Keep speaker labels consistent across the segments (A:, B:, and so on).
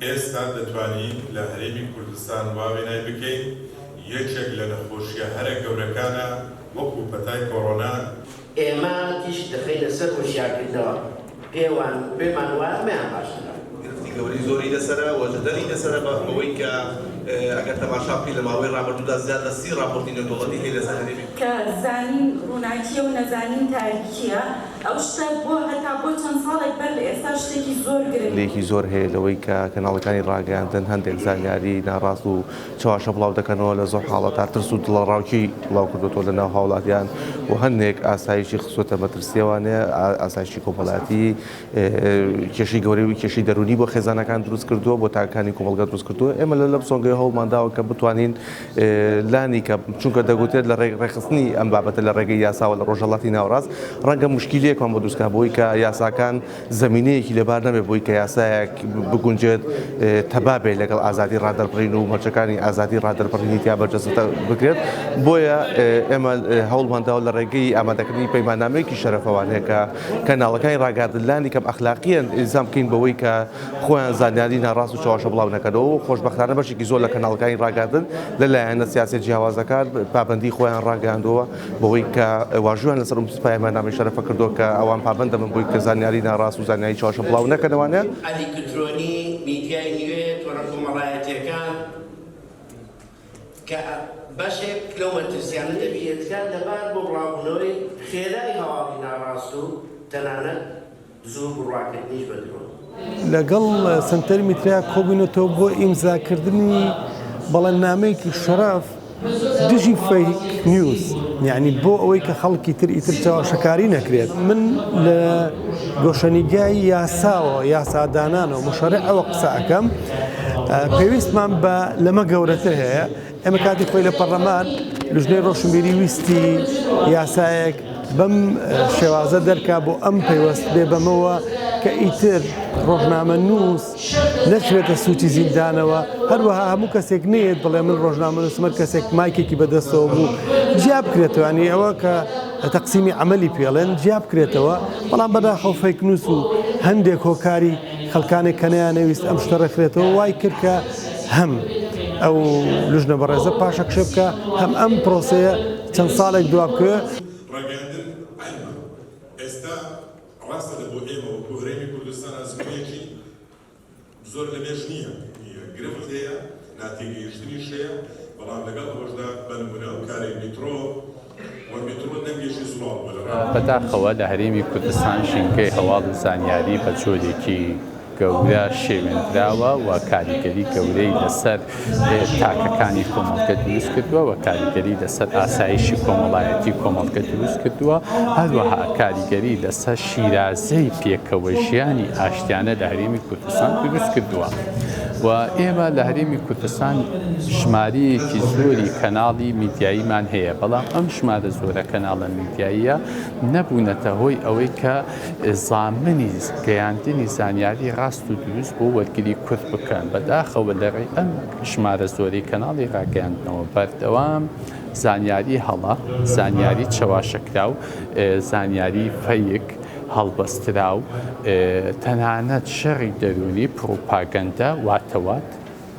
A: ئێستا دەتوانین لە هەرێمی کوردستان وا وێنای بکەین یەکێک لە نەخۆشییە هەرە گەورەکانە وەکو پەتای کۆرۆنا. ئێمە
B: تیشک دەخەینە سەر هۆشیارکردنەوە پێوان و پێمان وایە ئەمەیان باشترە. گرفتی گەورەی زۆری
C: لەسەرە و جەدەلی لەسەرە بە هۆی کە ئەگەر تەماشا بکەین لە ماوەی ڕابردوودا زیاد لە سی ڕاپۆرتی نێودەوڵەتی هەیە لەسەر هەرێمی. کە زانین ڕووناکییە
D: و نەزانین تاریکییە. ئەو شتە بۆ هەتا بۆ چەند ساڵێک بەر لە ئێستا شتێکی زۆر گرنگ بوو. لێکی زۆر هەیە لەوەی
E: کە کەناڵەکانی ڕاگەیاندن هەندێک زانیاری ناڕاست و چەواشە بڵاو دەکەنەوە لە زۆر حاڵەتا ترس و دڵەڕاوکێی بڵاو کردۆتەوە لە ناو هاوڵاتیان و هەندێک ئاسایشی خستۆتە مەترسی ئەوانەیە ئاسایشی کۆمەڵایەتی کێشەی گەورەی و کێشەی دەرونی بۆ خێزانەکان دروست کردووە بۆ تاکەکانی کۆمەڵگا دروست کردووە ئێمە لە لەم سۆنگەی هەوڵمانداوە کە بتوانین لانیکەم، چونکە دەگوترێت لە ڕێگە ڕێکخستنی ئەم بابەتە لە ڕێگەی یاساوە لە ڕۆژهەڵاتی ناوەڕاست ڕەنگە موشکیلەیەکمان بۆ دروستکات بۆی کە یاساکان زەمینەیەکی لەبار نەبێت بۆی کە یاسایەک بگونجێت تەبا بێت لەگەڵ ئازادی ڕادەربڕین و مەرجەکانی ئازادی ڕادەربڕینی تیا بەرجەستە بکرێت بۆیە ئێمە هەوڵمان داوە لە ڕێگەی ئامادەکردنی پەیماننامەیەکی شەرەفەوانەیە کە کەناڵەکانی ڕاگەیاندن لانیکەم ئەخلاقییەن ئیلزام بکەین بەوەی کە خۆیان زانیاری ناڕاست و چەواشە بڵاو نەکەنەوە و خۆشبەختانە بەشێکی زۆر لە کەناڵەکانی ڕاگەیاندن لە لایەنە سیاسیە جیاوازەکان پابەندی خۆیان ڕاگەیاندووە بەوەی کە واژویان لەسەر ئەم سوپای مانامەی شەرەفە کردووە کە ئەوان پابەند دەبن بۆی کە زانیاری ناڕاست و زانیاری چەواشە بڵاو نەکەنەوانە.
B: زوو بڕواکردنیش بە درۆن. لەگەڵ
F: سەنتەری میترا کۆبوونەتەوە بۆ ئیمزاکردنی بەڵێننامەیەکی شەڕەف دژی فەیک نیوز یانی بۆ ئەوەی کە خەڵکی تر ئیتر چاواشەکاری نەکرێت من لە گۆشەنیگای یاساوە یاسادانانەوە مشەڕعەوە قسە ئەەکەم پێویستمان بە لەمە گەورەتر هەیە ئێمە کاتی خۆی لە پەڕلەمان لژنەی ڕۆشنبیری ویستی یاسایەک بەم شێوازە دەرکا بۆ ئەم پەیوەست بێ بەمەوە کە ئیتر ڕۆژنامە نووس نەچێتە سوچی زیندانەوە هەروەها هەموو کەسێک نێت بڵێ من ڕۆژنامە نووسمەر کەسێک مایکێکی بەدەستەوە بوو جیا بکرێتوانی ئەوە کە تەقسیمی ئەمەلی پێڵێن جیا بکرێتەوە بەڵام بەداخەوفەیک نووس و هەندێک هۆکاری خەڵکانێک کە نەیانەویست ئەم شتە ڕێکخرێتەوە وای کرد کە هەم ئەو لژنە بەڕێزە پاشەکشێ بکە هەم ئەم پرۆسەیە چەند ساڵێک دوابکەوێ زۆر
A: لەمێژ نییە گرفت هەیە ناتێگەیشتنیش هەیە، بەڵام لەگەڵ ئەوەشدا بە نموونە ئەو کارەی میترۆ و میترۆ دەنگێکی زوڵاڵ بووە لە ڕادیۆ. بەداخەوە
G: لە هەرێمی کوردستان ژینگەی هەواڵ و زانیاری بە جۆرێکی گەورە شێوێندراوە و کاریگەری گەورەی لەسەر تاکەکانی کۆمەڵگە دروست کردووە و کاریگەری لەسەر ئاسایشی کۆمەڵایەتی کۆمەڵگە دروست کردووە، هەروەها کاریگەری لەسەر شیرازەی پێکەوەژیانی ئاشتیانە لە هەرێمی کوردستان دروست کردووە. و ئێمە لە هەرێمی کوردستان ژمارەیەکی زۆری کەناڵی میدیاییمان هەیە بەڵام ئەم ژمارە زۆرە کەناڵە میدیاییە نەبوونەتە هۆی ئەوەی کە زامنی گەیاندنی زانیاری ڕاست و دروست بۆ وەرگری کورد بکەن بەداخەوە لەڕێی ئەم ژمارە زۆری کەناڵی ڕاگەیاندنەوە بەردەوام زانیاری هەڵە زانیاری چەواشەکراو زانیاری فەیک هەڵبەستراو، تەنانەت شەڕی دەروونی، پڕوپاگەندە، واتەوات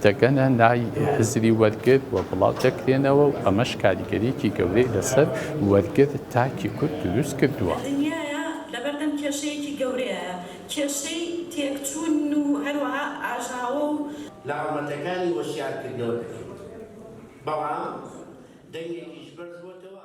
G: دەگەنە لای هزری وەرگر و بڵاو دەکرێنەوە و ئەمەش کاریگەرییەکی گەورەی لەسەر وەرگر تاکی کورد دروست کردووە. دنیایە
D: لەبەردەم کێشەیەکی گەورەیە، کێشەی تێکچوون و هەروەها ئاژاوە و. لە هەڵمەتەکانی
B: هۆشیارکردنەوە دەکەیت، بەڵام دەنگێکیش بەرز بۆتەوە.